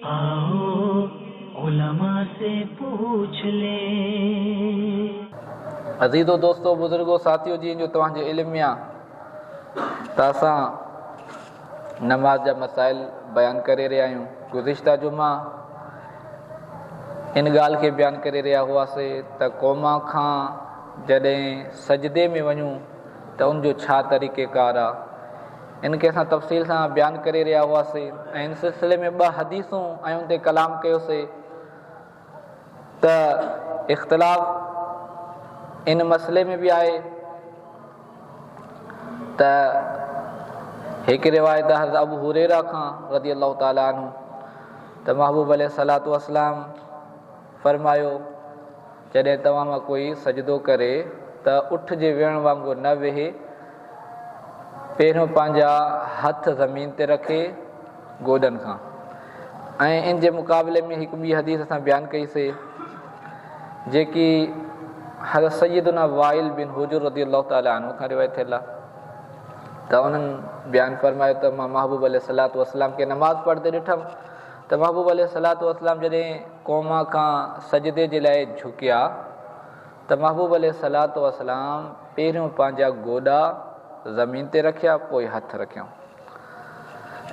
آئو علماء سي پوڇ لين. عزيزو دوستو بزرگو ساٿيو جيئن جو توهان جي علم ميان تان سان نماز جا مسائل بيان ڪري رهيا آهيون گذشته جمعا ان ڳالهه کي بيان ڪري رهيا هئاسي ته قوما کان جڏهن سجدي ۾ وڃون ته ان جو ڇا طريقه ڪار آ ان کي اسان تفصيل سان بيان ڪري رهيا هئاسين ۽ ان سلسلي ۾ ٻه حديثون ۽ ان تي ڪلام ڪيوسين ته اختلاف ان مسئلي ۾ به آهي ته هڪ روايت حضرت ابو هريرا کان رضي الله تعالٰي عنه ته محبوب عليه صلاحت وسلام فرمايو جڏهن توهان مان ڪوئي سجدو ڪري ته اٺ جي ويهڻ وانگر نه ويهي، پهريون پنهنجا هٿ زمين تي رکي، گوڏن کان، ۽ ان جي مقابلي ۾ هڪ ٻي حديث اسان بيان ڪئي سي، جيڪي حضرت سيدنا وائل بن حجر رضي الله تعالٰي عنه کان روايت ٿيل آهي ته انهن بيان فرمايو ته مان محبوب عليه الصلوة والسلام کي نماز پڙهندي ڏٺم ته محبوب عليه الصلوة والسلام جڏهن قوم کان سجدي جي لاء جهڪيا ته محبوب عليه الصلوة والسلام پهريون پنهنجا گوڏا زمين تي رکيا پوء هٿ رکيائون.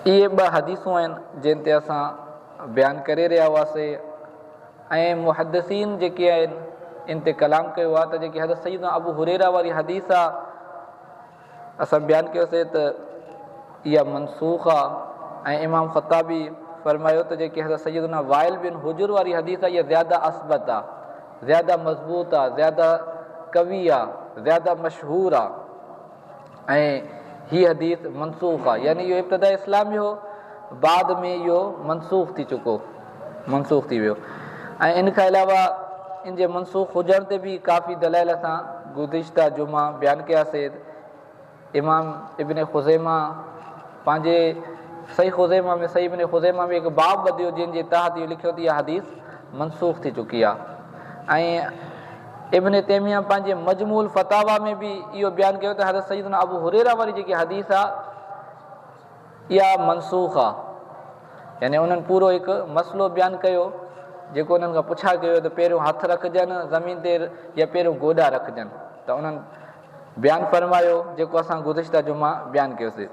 اهي ٻه حديثون آهن جن تي اسان بيان ڪري رهيا هئاسي ۽ محدثين جيڪي آهن ان تي ڪلام ڪيو آهي ته جيڪي حضرت سيدنا ابو هريره واري حديث آهي اسان بيان ڪيوسين ته اها منسوخ آهي ۽ امام خطابي فرمايو ته جيڪي حضرت سيدنا وائل بن حجر واري حديث آهي اها زياده اثبت آهي، زياده مضبوط آهي، زياده قوي آهي، زياده مشهور آهي ۽ هي حديث منسوخ آهي يعني اهو ابتداء اسلام ۾ هو بعد ۾ اهو منسوخ ٿي چڪو. منسوخ ٿي ويو ۽ ان کان علاوه ان جي منسوخ هجڻ تي به ڪافي دلائل اسان گذشته جمعه بيان ڪيا سيد امام ابن خزيمه پنهنجي صحيح خزيمه ۾ صحيح ابن خزيمه ۾ هڪ باب ٻڌيو جن جي تحت اهو لکيو ته اها حديث منسوخ ٿي چڪي آهي ۽ ابن تيميه پنهنجي مجمول فتاوا ۾ به اهو بيان ڪيو ته حضرت سيدنا ابو هريرا واري جيڪي حديث آ اها منسوخ آ. يعني انهن پورو هڪ مسئلو بيان ڪيو جيڪو انهن کان پڇا ڪيو ويو ته پهريون هٿ رکجن زمين تي يا پهريون گوڏا رکجن ته انهن بيان فرمايو جيڪو اسان گذشته جمعه بيان ڪيوسي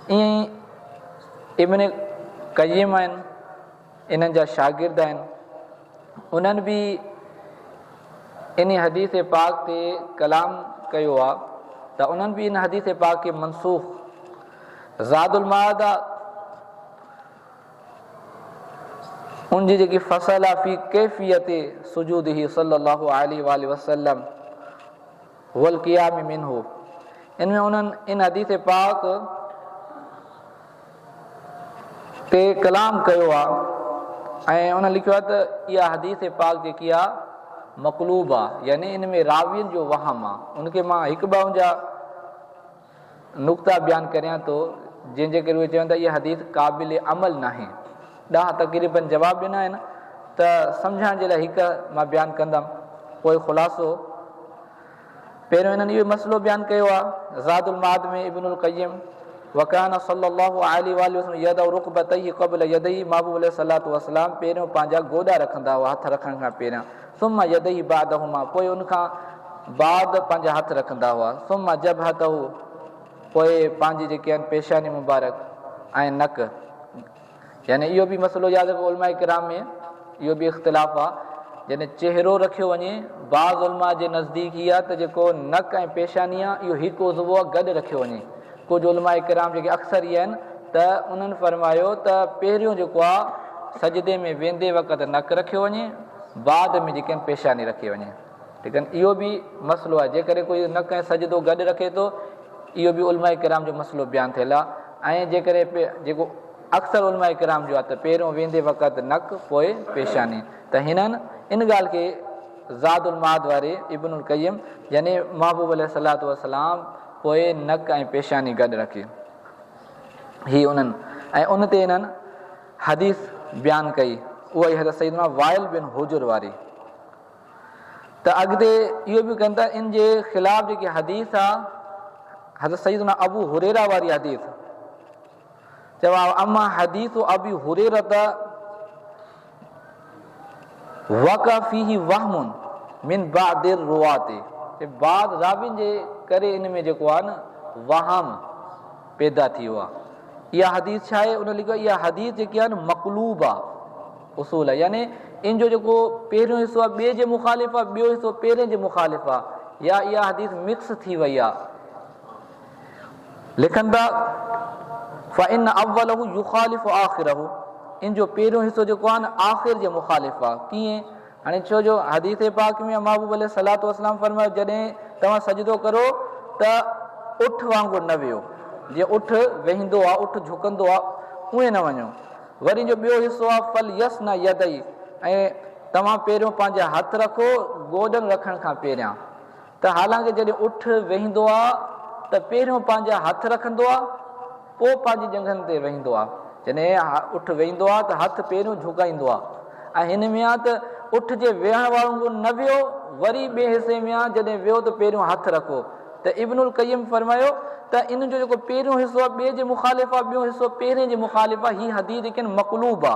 ائين ئي ابن قيم ۽ انهن جا شاگرد آهن انهن به ان حديث پاڪ تي ڪلام ڪيو آ ته انهن به ان حديث پاڪ کي منسوخ زاد المعاد آ ان جي جيڪي فصل آ في ڪيفيت سجود هي صلي الله عليه واله وسلم والقيام منه، ان ۾ انهن ان حديث پاڪ تي ڪلام ڪيو آ ۽ انهن لکيو آ ته اها حديث پاڪ جيڪي آ مقلوب آ يعني ان ۾ راوين جو وهم آ ان کي مان هڪ ٻه ان جا نقطا بيان ڪريان ٿو جنهن جي ڪري اهي چون ٿا اها حديث قابل عمل ناهي. ڏهه تقريبن جواب ڏنا آهن ته سمجهڻ جي لاء هڪ مان بيان ڪندم. پوء خلاصو پهريون انهن اهو مسئلو بيان ڪيو آهي زاد المعاد ۾ ابن القيم وڪان صلي الله عليه واٰله وسلم يدعو رقبتيه قبل يديه محبوب عليه صلات وسلام پهريون پنهنجا گوڏا رکندا هئا هٿ رکڻ کان پهريان ثم يديه بعدهما پوء ان کان بعد پنهنجا هٿ رکندا هئا ثم جبهته پوء پنهنجي جيڪي آهن پيشاني مبارڪ ۽ نڪ يعني اهو به مسئلو ياد رکو علماء ڪرام ۾ اهو به اختلاف آ جڏهن چهرو رکيو وڃي بعض علماء جي نزديڪ هي آ ته جيڪو نڪ ۽ پيشاني آ اهو هڪ عضو آ گڏ رکيو وڃي ڪجهه علماء ڪرام جيڪي اڪثر ئي آهن ته انهن فرمايو ته پهريون جيڪو آهي سجدي ۾ ويندي وقت نڪ رکيو وڃي بعد ۾ جيڪي پيشاني رکي وڃي ليڪن اهو به مسئلو آهي جيڪڏهن ڪوئي نڪ ۽ سجدو گڏ رکي ٿو اهو به علماء ڪرام جو مسئلو بيان ٿيل آهي ۽ جيڪڏهن جيڪو اڪثر علماء ڪرام جو آهي ته پهريون ويندي وقت نڪ پوء پيشاني ته هنن ان ڳالهه کي زاد المعاد واري ابن القيم يعني محبوب عليه صلات وسلام پوء نڪ ۽ پيشاني گڏ رکي هي انهن ۽ ان تي انهن حديث بيان ڪئي اها ئي حضرت سيدنا وائل بن حجر واري ته اڳتي اهو به ڪن ته ان جي خلاف جيڪي حديث آ حضرت سيدنا ابو هريرا واري حديث جواب، اما حديث ابي هريره وقع فيه وهم من بعض الرواة چي بعض راوين جي ڪري ان ۾ جيڪو آهي نه وهم پيدا ٿي ويو آهي اها حديث ڇا آهي ان لکيو اها حديث جيڪي آهي نه مقلوب آهي اصول آهي يعني ان جو جيڪو پهريون حصو آهي ٻئي جي مخالف آهي ٻيو حصو پهرين جي مخالف آهي يا اها حديث مڪس ٿي وئي آهي لکن ٿا، فإن اوله يخالف آخره، ان جو پهريون حصو جيڪو آهي نه آخر جي مخالف آهي، ڪيئن؟ هاڻي ڇو جو حديث پاڪ ۾ محبوب عليه الصلوة والسلام فرمايو جڏهن توهان سجدو ڪرو ته اٺ وانگر نه ويهو، جيئن اٺ ويهندو آهي، اٺ جهڪندو آهي، ايئن نه وڃو. وري جو ٻيو حصو آهي، فليثنع يديه، ۽ توهان پهريون پنهنجا هٿ رکو گوڏن رکڻ کان پهريان. ته حالانڪه جڏهن اٺ ويهندو آ ته پهريون پنهنجا هٿ رکندو آ پوء پنهنجي ڄنگهن تي ويهندو آ جڏهن اٺ ويهندو آ ته هٿ پهريون جهڪائيندو آ ۽ هن ۾ آ ته اٺ جي ويهڻ وانگر نه ويهو وري ٻئي حصي ۾ آ جڏهن ويهو ته پهريون هٿ رکو ته ابن القيم فرمايو ته ان جو جيڪو پهريون حصو آ ٻئي جي مخالف آ ٻيون حصو پهرين جي مخالف آ هي حديث ليڪن مقلوب آ.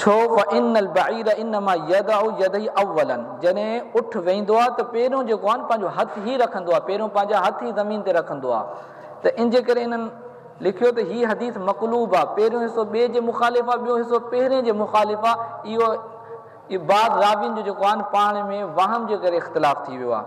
ڇو فإن البعير انما يضع يديه اولا جڏهن اٺ ويهندو آهي ته پهريون جيڪو آهي نه پنهنجو هٿ هي رکندو آهي پهريون پنهنجا هٿ هي زمين تي رکندو آهي ته انجي ڪري انهن لکيو ته هي حديث مقلوب آهي پهريون حصو ٻئي جي مخالف آهي ٻيو حصو پهرين جي مخالف آهي اهو بعض راوين جو جيڪو آهي نه پاڻ ۾ وهم جي ڪري اختلاف ٿي ويو آهي.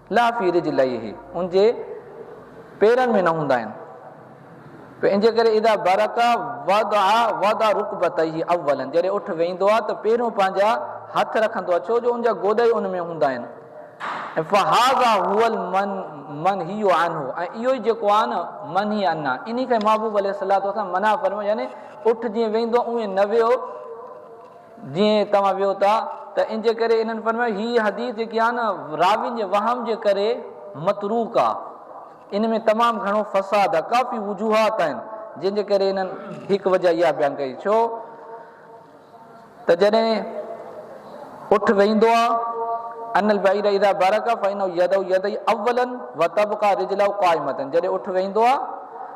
لا في رجليه ان جي پيرن ۾ نه هوندا آهن پوء ان جي ڪري اذا برڪ وضع وضع ركبتيه اولا جڏهن اٺ ويندو آهي ته پهريون پنهنجا هٿ رکندو آهي ڇو جو ان جا گوڏا ئي ان ۾ هوندا آهن فهذا هو المن منهي عنه ۽ اهو ئي جيڪو آهي نه منهي عنا انهي کي محبوب عليه الصلاه والسلام منع فرمايو يعني اٺ جيئن ويندو اهو نه ويو جيئن توهان ويو ٿا ته ان جي ڪري انهن فرمايو هي حديث جيڪي آهي نه راوين جي وهم جي ڪري متروڪ آهي ان ۾ تمام گهڻو فساد آهي ڪافي وجوهات آهن جن جي ڪري انهن هڪ وجه اها بيان ڪئي ڇو ته جڏهن اٺ ويندو آهي ان البعير اذا برك فانه يدو يدي اولا وتبقى رجلو قائمه جڏهن اٺ ويندو آهي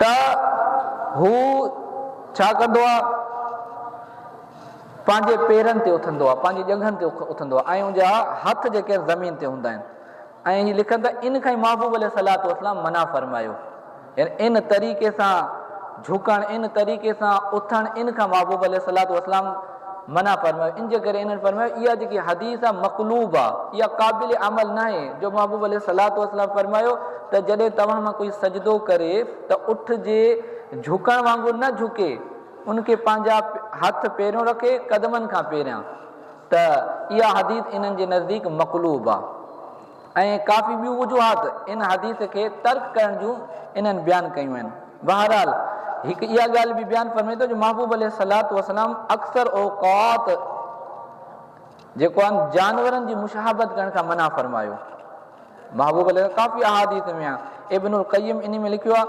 ته هو ڇا ڪندو آهي؟ پنهنجي پيرن تي اٿندو آهي، پنهنجي ڄنگهن تي اٿندو آهي ۽ ان جا هٿ جيڪي آهن زمين تي هوندا آهن ۽ هي لکن ته ان کان ئي محبوب عليه الصلوة والسلام منع فرمايو يعني ان طريقي سان جهڪڻ، ان طريقي سان اٿڻ، ان کان محبوب عليه الصلوة والسلام منع فرمايو ان جي ڪري انهن فرمايو اها جيڪي حديث آهي مقلوب آهي اها قابل عمل ناهي جو محبوب عليه الصلاة والسلام فرمايو ته جڏهن توهان مان ڪوئي سجدو ڪري ته اٺ جي جهڪڻ وانگر نه جهڪي ان کي پنهنجا هٿ پيريون رکي قدمن کان پيريان ته اها حديث انهن جي نزديڪ مقلوب آهي. ائين ڪافي ٻيون وجوهات ان حديث کي ترڪ ڪرڻ جون انهن بيان ڪيون آهن. بهرحال هڪ اها ڳالهه به بيان فرمي ٿو جو محبوب عليه الصلوة والسلام اڪثر اوقات جيڪو آهن جانورن جي مشاهبت ڪرڻ کان منع فرمايو. محبوب عليه ڪافي احاديث ۾ آهن ابن القيم انهي ۾ لکيو آهي.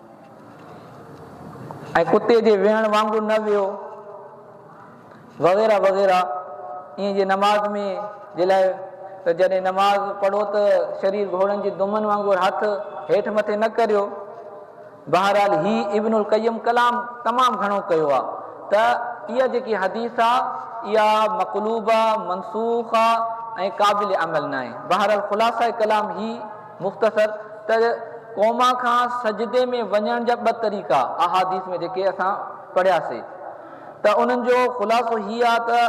۽ ڪتي جي ويهڻ وانگر نه ويهو وغيره وغيره ائين جي نماز ۾ جي لاء ته جڏهن نماز پڙهو ته شرير گهوڙن جي دمن وانگر هٿ هيٺ مٿي نه ڪريو بهرحال هي ابن القيم ڪلام تمام گهڻو ڪيو آ ته اها جيڪي حديث آ اها مقلوب آ منسوخ آ ۽ قابل عمل ناهي بهرحال خلاصه ڪلام هي مختصر تر ڪوما کان سجدي ۾ وڃڻ جا ٻه طريقا احاديث ۾ جيڪي اسان پڙهيا سي ته انهن جو خلاصو هي آ ته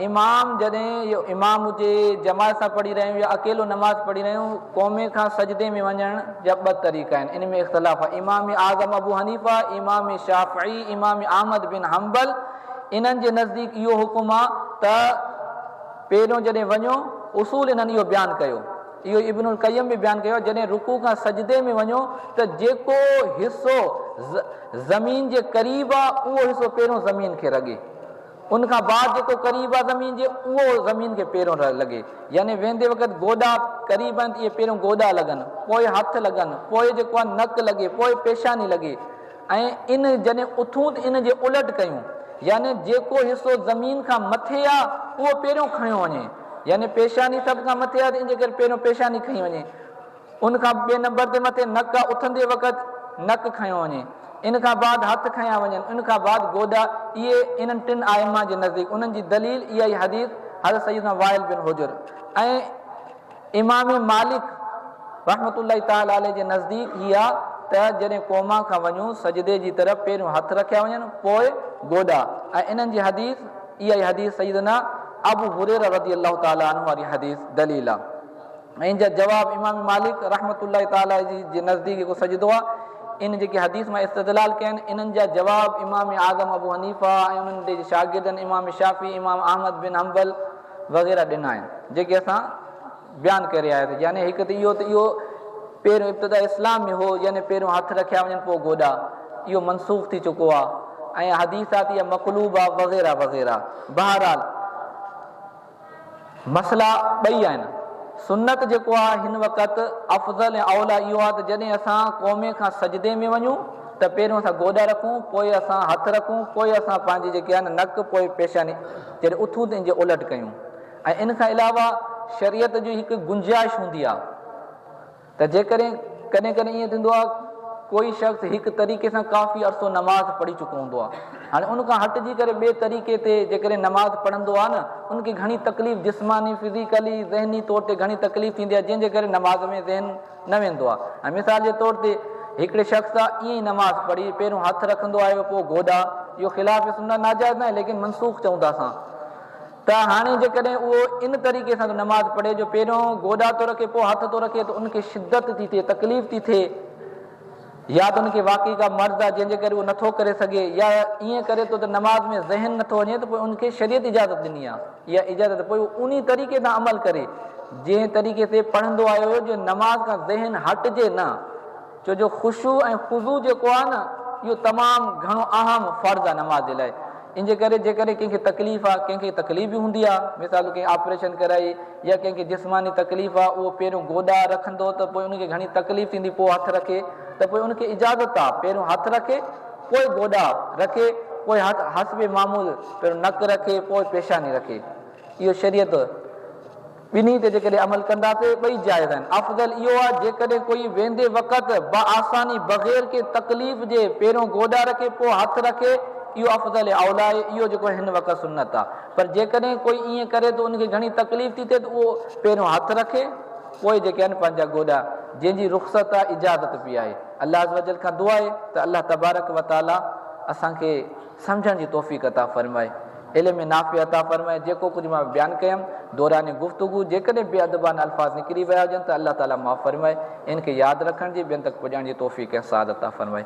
امام جڏهن اهو امام هجي جماعت سان پڙهي رهيون يا اڪيلو نماز پڙهي رهيون ڪومي کان سجدي ۾ وڃڻ جا ٻه طريقا آهن ان ۾ اختلاف آ امام اعظم ابو حنيفه امام شافعي امام احمد بن حنبل انهن جي نزديڪ اهو حڪم آ ته پهريون جڏهن وڃو اصول انهن اهو بيان ڪيو اهو ئي ابن القيم به بيان ڪيو آهي جڏهن رڪوع کان سجدي ۾ وڃو ته جيڪو حصو زمين جي قريب آهي اهو حصو پهريون زمين کي رڳي ان کان بعد جيڪو قريب آهي زمين جي اهو زمين کي پهريون لڳي يعني ويندي وقت گوڏا قريب آهن ته اهي پهريون گوڏا لڳن پوء هٿ لڳن پوء جيڪو آهي نڪ لڳي پوء پيشاني لڳي ۽ ان جڏهن اٿون ته ان جي الٽ ڪيون، يعني جيڪو حصو زمين کان مٿي آ اهو پهريون کڻيو وڃي، يعني پيشاني سڀ کان مٿي آ ته ان جي ڪري پهريون پيشاني کنئي وڃي، ان کان ٻئي نمبر تي مٿي نڪ آ اٿندي وقت نڪ کنيو وڃي، ان کان بعد هٿ کنيا وڃن، ان کان بعد گوڏا، اهي انهن ٽن آئمه جي نزديڪ، انهن جي دليل اها ئي حديث حضرت سيدنا وائل بن حجر ۽. امام مالڪ رحمة الله تعالٰي عليه جي نزديڪ هي آ ته جڏهن قوما کان وڃون سجدي جي طرف پهريون هٿ رکيا وڃن پوء گوڏا ۽ انهن جي حديث اها ئي حديث سيدنا ابو هريره رضي الله تعالٰي عنه واري حديث دليل آ ۽ ان جا جواب امام مالڪ رحمة الله تعالٰي عليه جي نزديڪ جيڪو سجدو آ ان جيڪي حديث مان استدلال ڪيا آهن انهن جا جواب امام اعظم ابو حنيفه ۽ انهن جي شاگردن امام شافعي امام احمد بن حنبل وغيره ڏنا آهن جيڪي اسان بيان ڪري آيا سين يعني هڪ ته اهو ته اهو پهريون ابتدا اسلام ۾ هو يعني پهريون هٿ رکيا وڃن پوء گوڏا اهو منسوخ ٿي چڪو آهي ۽ حديثات يا مقلوب آهي وغيره وغيره بهرحال مسئلا ٻئي آهن سنت جيڪو آهي هن وقت افضل ۽ اولا اهو آهي ته جڏهن اسان قومي کان سجدي ۾ وڃون ته پهريون اسان گوڏا رکون پوء اسان هٿ رکون پوء اسان پنهنجي جيڪي آهن نڪ پوء پيشاني جڏهن اٿون ته ان جي الٽ ڪيون ۽ ان کان علاوه شريعت جي هڪ گنجائش هوندي آهي ته جيڪڏهن ڪڏهن ڪڏهن ائين ٿيندو آهي ڪوئي شخص هڪ طريقي سان ڪافي عرصو نماز پڙهي چڪو هوندو آهي هاڻي ان کان هٽجي ڪري ٻئي طريقي تي جيڪڏهن نماز پڙهندو آهي نه ان کي گهڻي تڪليف جسماني فزيڪلي ذهني طور تي گهڻي تڪليف ٿيندي آهي جنهن جي ڪري نماز ۾ ذهن نه ويندو آ ۽ مثال جي طور تي هڪڙي شخص سا ائين ئي نماز پڙهي پهريون هٿ رکندو آيو پوء گوڏا اهو خلاف سنت ناجائز ناهي ليڪن منسوخ چئون ٿا اسان ته هاڻي جيڪڏهن اهو ان طريقي سان ٿو نماز پڙهي جو پهريون گوڏا ٿو رکي پوء هٿ ٿو رکي ته ان کي شدت ٿي ٿئي تڪليف ٿي ٿئي يا ته ان کي واقعي ڪا مرض آهي جنهن جي ڪري اهو نٿو ڪري سگهي يا ائين ڪري ٿو ته نماز ۾ ذهن نٿو وڃي ته پوء ان کي شريعت اجازت ڏني آهي اها اجازت ته پوء اهو انهي طريقي سان عمل ڪري جنهن طريقي تي پڙهندو آيو هو جو نماز کان ذهن هٽجي نه ڇو جو خشوع ۽ خضوع جيڪو آهي نه اهو تمام گهڻو اهم فرض آهي نماز جي لاء ان جي ڪري جيڪڏهن ڪنهن کي تڪليف آهي ڪنهن کي تڪليف به هوندي آهي مثال ڪنهن آپريشن ڪرائي جيئن ڪنهن کي جسماني تڪليف آ اهو پهريون گوڏا رکندو ته پوء ان کي گهڻي تڪليف ٿيندي پوء هٿ رکي ته پوء ان کي اجازت آ پهريون هٿ رکي پوء گوڏا رکي پوء حسب معمول پهريون نڪ رکي پوء پيشاني رکي اهو شريعت ٻنهي تي جيڪڏهن عمل ڪنداسي ٻئي جائز آهن افضل اهو آ جيڪڏهن ڪوئي ويندي وقت بآساني بغير ڪنهن تڪليف جي پهريون گوڏا رکي پوء هٿ رکي اهو افضل اولا آهي اهو جيڪو هن وقت سنت آ پر جيڪڏهن ڪوئي ائين ڪري ته ان کي گهڻي تڪليف ٿي ٿئي ته اهو پهريون هٿ رکي پوء جيڪي آهن پنهنجا گوڏا جنهن جي رخصت آهي اجازت به آهي الله عزّوجلّ کان دعا آهي ته الله تبارڪ وتعاليٰ اسان کي سمجهڻ جي توفيق عطا فرمائي علم نافع عطا فرمائي جيڪو ڪجهه مان بيان ڪيم دوران گفتگو جيڪڏهن بي ادبانه الفاظ نڪري ويا هجن ته الله تعاليٰ معاف فرمائي ان کي ياد رکڻ جي ٻين تڪ پڄائڻ جي توفيق ۽ سعادت عطا فرمائي